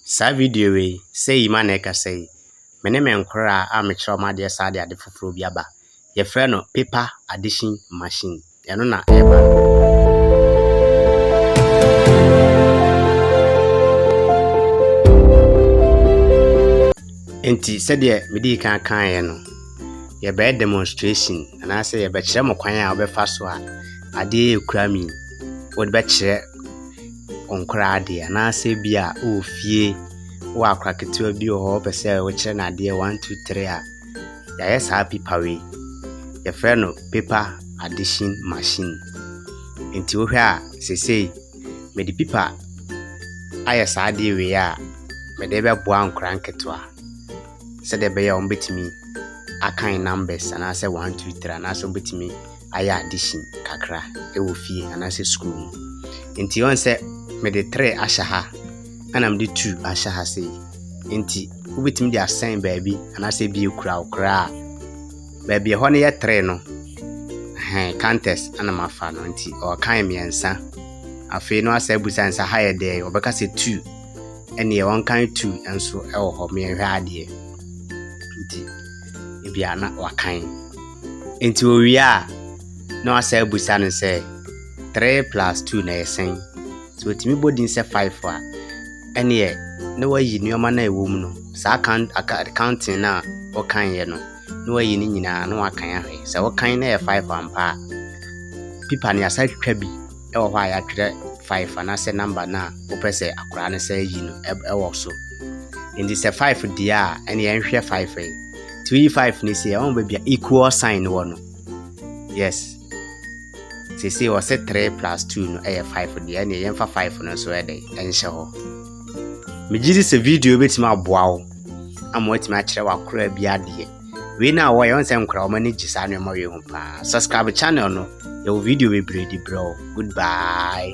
Saa video wei, sei yi ma na ɛka sei, Me ne me nkoraa a mekyerɛ wɔn adeɛ saa de ade foforɔ bi aba. Yɛfrɛ no paper addition machine. Ɛno na ɛreba no. Enti sɛdeɛ medii kan kaeɛ no, yɛbɛyɛ demonstration anaasɛ yɛbɛkyerɛ mo kwan a wobɛfa so a adeɛ yɛ kura mi wode bɛkyerɛ wo nkora adeɛ anaasɛ bi a wɔ fie wɔ akora ketewa bi wɔ hɔ wopɛ sɛ wokyerɛ no adeɛ one two three a yɛayɛ saa pipa wei yɛfrɛ no paper addition machine nti wohwɛ a sesei mede pipa ayɛ saa adeɛ wei a mede bɛboa nkora nketewa sɛdeɛ ɛbɛyɛ a wɔbɛtumi akan numbers anaasɛ one two three anaasɛ wɔbɛtumi ayɛ adehye kakra wɔ fie anaasɛ sukuu mu. Enti ɔn sɛ mede tre ahyɛ ha ɛna mede two ahyɛ ha sei. Enti wobɛtumi de asɛn baabi anaasɛ bi ekura wo koraa. Baabi ɛhɔ no yɛ tre no hɛn counters ɛna mafa no nti ɔkan mmiɛnsa. Afei no asɛ abusa nsa ha yɛ dɛn ɔbɛka sɛ two ɛneɛ ɔnkan two nso ɛwɔ hɔ mmiɛnhwɛ adeɛ nti ebia na wakan. Enti owie a, na wasan abisa no sɛ, Three plus two na ɛyɛ sɛn? Sɛ otumi bɔ din sɛ five a, ɛneɛ na wayi nneɛma no a ɛwɔ mu no, saa kan aka counting no a wɔkanyeɛ no, na wayi ne nyinaa na wakan ahwɛ. Sɛ wɔkan na ɛyɛ five ampa a, pipa no yɛasa twitwa bi. wɔ hɔ a yɛatwerɛ five anaasɛ number no a wopɛ sɛ akwadaa no san yi no wɔ so. Nti sɛ five deɛ a ɛne yɛnhwɛ five yi. Nti woyi five no si ɛwɔ baabi a equal sign wɔ no. Yes. Sisi wɔ se three plus two no ɛyɛ five deɛ ɛne yɛmfa five no nso ɛde ɛnhyɛ hɔ. Megye di sɛ video bɛtumi aboa wo ama watumi akyerɛ w'akoraa bi adeɛ. wei na wɔyɛ wɔn sɛ nkora wɔn ani gye saa nneɛma wei ho paa subscribe channel no yɛwɔ video bebree de brɛ o goodbye.